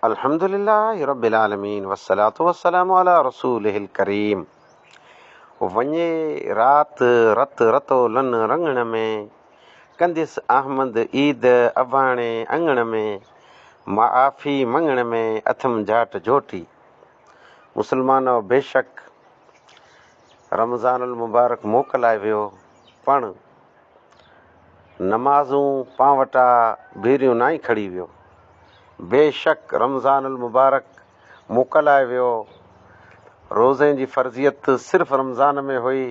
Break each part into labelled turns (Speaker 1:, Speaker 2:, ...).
Speaker 1: الحمدلله رب العالمين والصلاة والسلام علي رسوله الڪريم وڃي رات رت رتو لن رڱڻ ۾، ڪنديس احمد عيد اباڻي اڱڻ ۾، معافي مڱڻ ۾ اٿم جاٽ جوٽي. مسلمانؤ بيشڪ رمضان المبارڪ موڪلائي ويو، پڻ نمازون پان وٽا ڀيريون نائين کڙي ويو. بيشڪ رمضان المبارڪ موڪلائي ويو. روزي جي فرضيت صرف رمضان ۾ هئي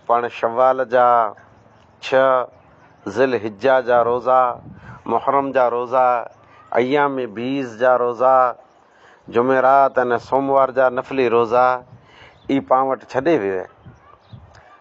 Speaker 1: پڻ شوال جا ڇهه، ذوالحجه جا روزا، محرم جا روزا، ايام بيض جا روزا، جمعرات ۽ سوموار جا نفلي روزا ئي پان وٽ ڇڏي ويو.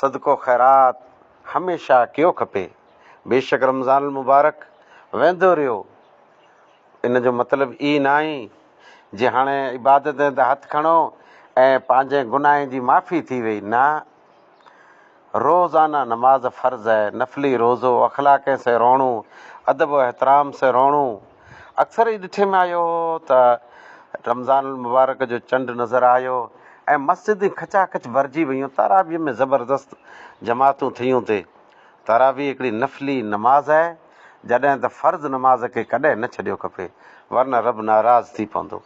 Speaker 1: صدقو خيرات هميشه ڪيو کپي. بيشڪ رمضان المبارڪ ويندو رهيو ان جو مطلب ئي ناهي جي هاڻي عبادتن تي هٿ کڻو ۽ پنهنجي گناهن جي معافي ٿي وئي نه روزانه نماز فرض نفلي روزو اخلاقين سين رهڻو ادب و احترام سين رهڻو اڪثر هي ڏٺي ۾ آيو هو ته رمضان المبارڪ جو چنڊ نظر آيو ۽ مسجدون کچا کچ ڀرجي ويون تراويح ۾ زبردست جماعتون ٿيون تي تراويح هڪڙي نفلي نماز آهي جڏهن ته فرض نماز کي ڪڏهن نه ڇڏيو کپي ورنه رب ناراض ٿي پوندو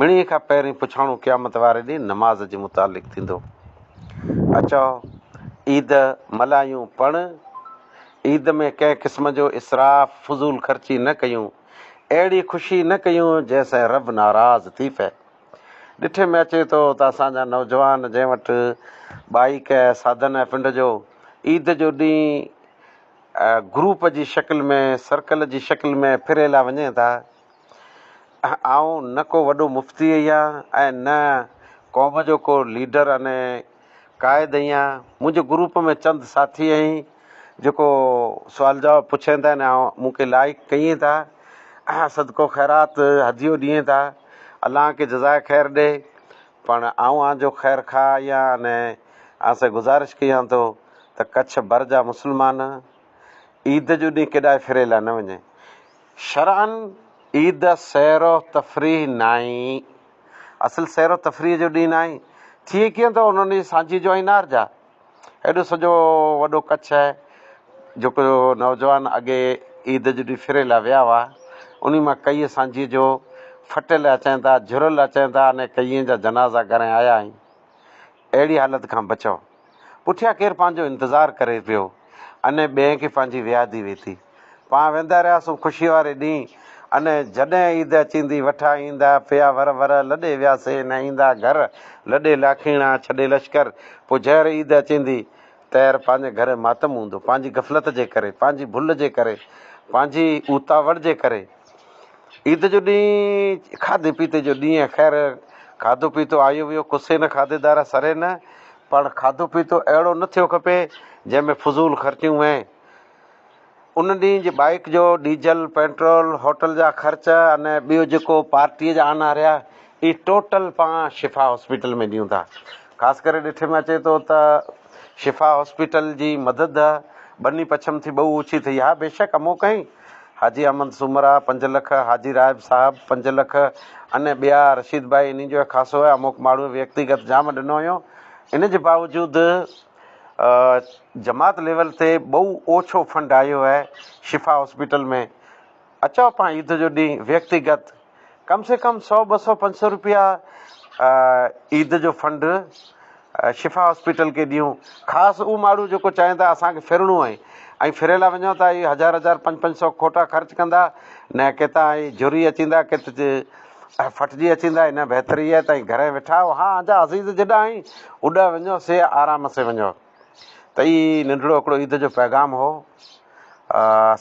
Speaker 1: مڙيئي کان پهرين پڇاڻو قيامت واري ڏينهن نماز جي متعلق ٿيندو اچو عيد ملايون پڻ عيد ۾ ڪنهن قسم جو اسراف، فضول خرچي، نه ڪيون، اهڙي خوشي نه ڪيون جنهن سان رب ناراض ٿي پئي. ڏٺي ۾ اچي ٿو ته اسان جا نوجوان جنهن وٽ بائيڪ ۽ سادن ۽ پنڊ جو عيد جو ڏينهن گروپ جي شڪل ۾ سرڪل جي شڪل ۾ ڦري لا وڃين ٿا. آئون نه ڪو وڏو مفتي اهيان ۽ نه قوم جو ڪو ليڊر اني قائد ايان منهنجي گروپ ۾ چند ساٿي اهين جيڪو سوال جواب پڇين ٿا ۽ مون کي لائيڪ ڪيين ٿا ۽ صدقو خيرات هديو ڏيين ٿا الله کي جزائي خير ڏي پڻ آئون آن جو خير خواهه اهيان ۽ آن سائين گذارش ڪيان ٿو ته ڪڇ ڀر جا مسلمان عيد جو ڏينهن ڪيڏانهن ڦري لاء نه وڃي شرعن عيد سير و تفريح ناهي. اصل سير و تفريح جو ڏينهن آهي. ٿئي ڪيئن ٿو انهن جي سانجهيء جو ۽ نار جا. ايڏو سڄو وڏو ڪڇ آهي جو ڪو نوجوان اڳي عيد جي ڏينهن ڦري لاء ويا هئا، انهي مان ڪيئي سانجهيء جو ڦٽل اچائين ٿا، جهرل اچائين ٿا، انهي ڪيئي جا جنازا ڳرائي آيا آهيون. اهڙي حالت کان بچئو. پٺيان ڪير پنهنجو انتظار ڪري پيو ان ٻئي کي پنهنجي ويادي وئي ٿي. پان ويندا رهياسون خوشيء واري ڏينهن ان جڏهن عيد اچيندي وٺا ايندا پيا ور ور لڏي وياسي نه ايندا گهر لڏي لاکيڻا ڇڏي لشڪر پوء جهر عيد اچيندي تهر پنهنجي گهر ماتم هوندو پنهنجي غفلت جي ڪري پنهنجي ڀل جي ڪري پنهنجي اوتاوڙ جي ڪري عيد جو ڏينهن کاڌي پيتي جو ڏينهن آهي. خير کاڌو پيتو آيو ويو ڪسي نه کاڌي دارا سري نه پڻ کاڌو پيتو اهڙو نه ٿيو کپي جنهن ۾ فضول خرچيون وهين. ان ڏينهن جي بائيڪ جو ڊيزل، پيٽرول، هوٽل جا خرچ ان ٻيو جيڪو پارٽيء جا آنا رهيا اهي ٽوٽل پاڻ شفا هاسپيٽل ۾ ڏيون ٿا خاص ڪري ڏٺي ۾ اچي ٿو ته شفا هاسپيٽل جي مدد ٻني پڇم ٿي ٻئو اوچي ٿئي ها بيشڪ امو ڪئين حاجي احمد سومرا پنج لک حاجي رائب صاحب پنج لک اني ٻيا رشيد ڀائي اني جو خاصو هي اموڪ ماڻهو ويڪتيگت جام ڏنو هيو ان جي باوجود جماعت ليول تي ٻئو اوڇو فنڊ آيو هي شفا هاسپيٽل ۾ اچاء پاء عيد جو ڏينهن ويڪتيگت ڪم سي ڪم سؤ ٻه سؤ پنج سؤ روپيا عيد جو فنڊ شفا هاسپيٽل کي ڏيون خاص اهو ماڻهو جيڪو چاهين ٿا اسان کي ڦرڻو آهي ۽ ڦري لا وڃو ٿا هي هزار هزار پنج پنج سؤ کوٽا خرچ ڪندا نه ڪيتا ۽ جري اچيندا ڪت ڦٽجي اچيندا هن بهتري آهي تائين گهر وٺاء ها انجا عزيز جڏا آهين اڏا وڃو سي آرام سي وڃو ته هي ننڍڙو هڪڙو عيد جو پيغام هو.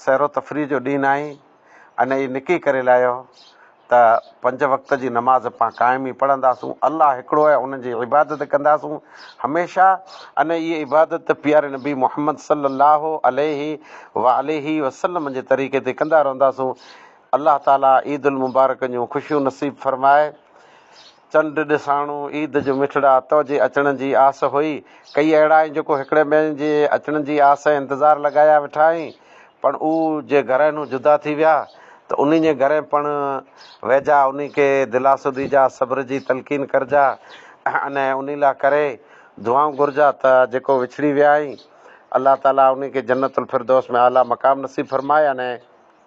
Speaker 1: سير و تفريح جو ڏينهن ناهي. ان هي نڪي ڪري لاهيو ته پنج وقت جي نماز اپان قائم ئي پڙهنداسون. الله هڪڙو آهي ان جي عبادت ڪنداسون هميشه. ان هي عبادت پياري نبي محمد صلي الله عليه و آله و سلم جي طريقي تي ڪندا رهنداسون. الله تعالي عيد المبارڪ جون خوشيون نصيب فرمائي. چنڊ ڏساڻو، عيد جو مٺڙا تو جي اچڻ جي آس هئي. ڪيئي اهڙا آهن جيڪو هڪڙي ٻين جي اچڻ جي آس ۽ انتظار لڳايا ويٺا آهن پڻ اهو جي گهرين هو جدا ٿي ويا ته انهين جي گهرين پڻ ويجها انهين کي دلاسو ڏيجا صبر جي تلقين ڪرجا ۽ انهين لا ڪري دعائون گهرجا ته جيڪو وڇڙي ويا آهن الله تعالي انهين کي جنت الفردوس ۾ اعليٰ مقام نصيب فرمائي ۽